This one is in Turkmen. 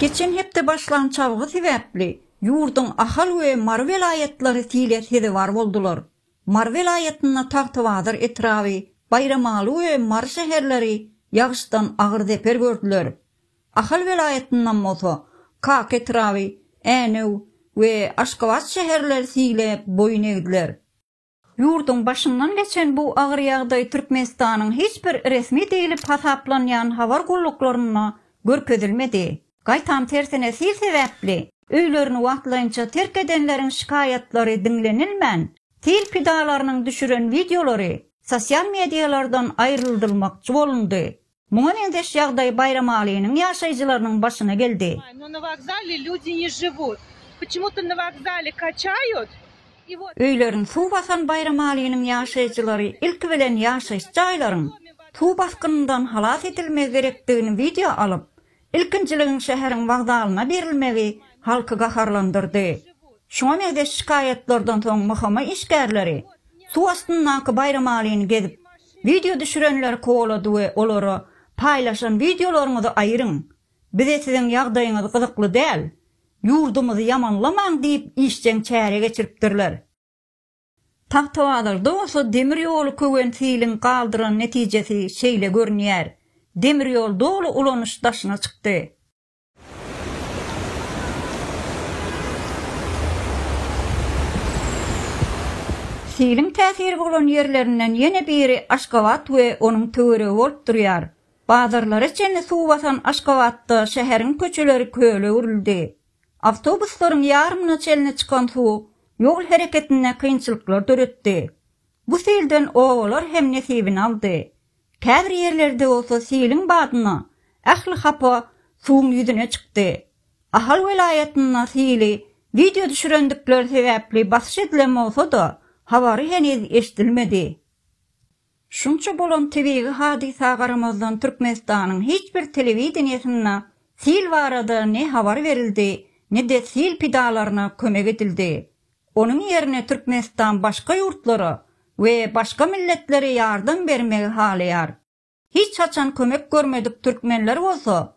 Geçen hepde başlan çalgy sebäpli ýurduň Ahal we Mary welaýatlary sile sezewar boldular. Mary welaýatynda Tagtabazar etraby, Baýramaly we Mary şäherleri ýagyşdan agyr zeper gördüler. Ahal welaýatyndan bolsa, Kaka etraby, Änew we Aşgabat şäherleri siglep boýun egdiler. Ýurduň başyndan geçen bu agyr ýagdaý Türkmenistanyň hiç bir resmi diýlip hasaplanýan habar gulluklarynda görkezilmedi. Gaýtam tersine sil sebäpli öýlerini wagtlaýynça terk edenleriň şikaýatlary diňlenilmän, sil pidalarynyň düşüren wideolary sosial medialardan aýryldylmakçy bolundy. Muňa meňzeş ýagdaý Baýramalynyň ýaşaýjylarynyň başyna geldi. Öýlerini suw basan Baýramalynyň ýaşaýjylary ilki bilen ýaşaýyş jaýlaryň suw basgynyndan halas edilmegi gerekdigini wideo alyp, Ilkinjiligiň şäheriň wokzalyna berilmegi halky gaharlandyrdy. Şuňa meňzeş şikaýatlardan soň MHM işgärleri suw astyndaky Baýramalyny gezip, wideo düşürenleri kowalady we olara Paýlaşan wideolaryňyzy aýryň, bize siziň ýagdaýyňyz gyzykly däl, ýurdumyzy ýamanlamaň diýip işjeň çäre geçiripdirler. Tagtabazarda bolsa demir ýoly köwen siliň galdyran netijesi şeýle görünýär. Demir ýol doly ulanyş daşyna çykdy. Siliň täsiri bolan ýerlerinden ýene biri Aşgabat we onuň töweregi bolup durýar. Bazarlara çenli suw basan Aşgabatda şäheriň köçeleri köle öwrüldi. Awtobuslaryň ýarymyna çenli çykan suw ýol hereketinde kynçylyklar döretdi. Bu silden obalar hem nesibini aldy. Käbir ýerlerde bolsa siliň badyna ähli hapa suwuň ýüzüne çykdy. Ahal welaýatynda sili wideo düşürendikleri sebäpli basyş edilen bolsa-da, habary heniz eşidilmedi. Şunça bolan tebigy hadysa garamazdan Türkmenistanyň hiç bir telewideniýesinde sil barada ne habar berildi, ne-de sil pidalaryna kömek edildi. Onuň ýerine Türkmenistan başga ýurtlara we başga milletlere ýardam bermegi halaýar. Hiç haçan kömek görmedik türkmenler bolsa